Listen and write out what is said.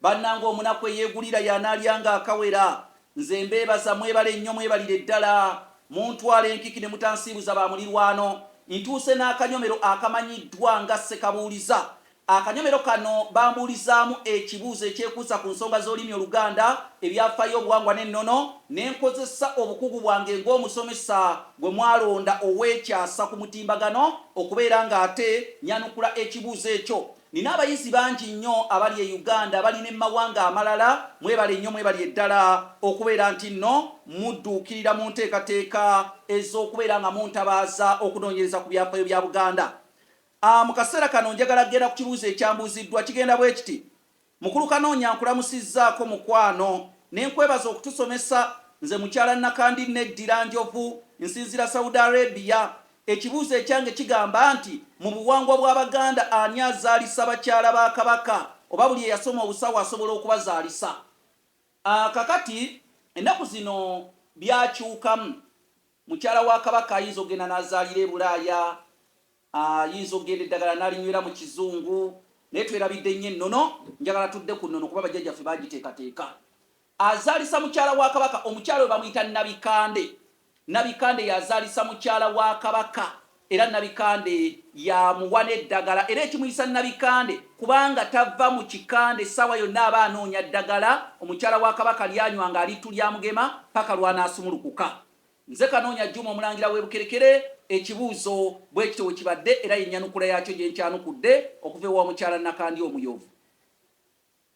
Banange omunaku eyegulira yanalya nga akawera nze mbebaza mwebale nnyo mwebalire ddala muntwala enkiki ne mutansiibuza ba mulirwano ntuuse n'akanyomero akamanyiddwa nga ssekabuuliza akanyomero kano bambuulizaamu ekibuuzo ekyekuusa ku nsonga z'olulimi oluganda ebyafaayo obuwangwa n'ennono nenkozesa obukugu bwange ng'omusomesa gwe mwalonda ow'ekyasa ku mutimbagano okubeera nga ate nyanukula ekibuuzo ekyo Nina abayizi bangi nnyo abali e Uganda abali ne mumawanga amalala mwebale nnyo mwebali eddala okubeera ntinno mudduukirira mu nteekateeka ez'okubeera nga muntabaaza okunoonyereza ku byafaayo bya Buganda. A, mu kaseera kano njagala kugenda ku kibuuzo ekyambuuziddwa kigenda bwekiti, Mukulu Kanoonya nkulamusizzaako mukwano ne nkwebaza okutusomesa nze mukyala Nakandi Neddi Lanjovu nsinzira Saudi Arabia Ekibuuzo ekyange kigamba nti mu buwangwa bwa Baganda ani azaalisa bakyala ba Kabaka oba buli eyasoma obusawo asobola okubazaalisa? Aah kakati ennaku zino byakyukamu, mukyala wa Kabaka ayinza okugenda nazaalira e Bulaaya, ayinza okugenda eddagala nalinywera mu Kizungu naye twerabidde nnyo ennono, njagala tudde ku nnono kuba bajjajjaffe baagiteekateeka. Azaalisa mukyala wa Kabaka. Omukyala oyo bamuyita Nabikande. Nabikande y'azaalisa mukyala wa Kabaka era Nabikande y'amuwa n'eddagala era ekimuyisa Nabikande kubanga tava mu kikande essaawa yonna aba anoonya ddagala omukyala wa Kabaka ly'anywanga alittu ly'amugema ppaka lw'anaasumulukuka. Nze Kanoonya Juma Omulangira w'e Bukerekere ekibuuzo bwe kityo bwe kibadde era y'ennyanukula yaakyo gye nkyanukudde okuva ewa Omukyala Nakandi Omuyovu.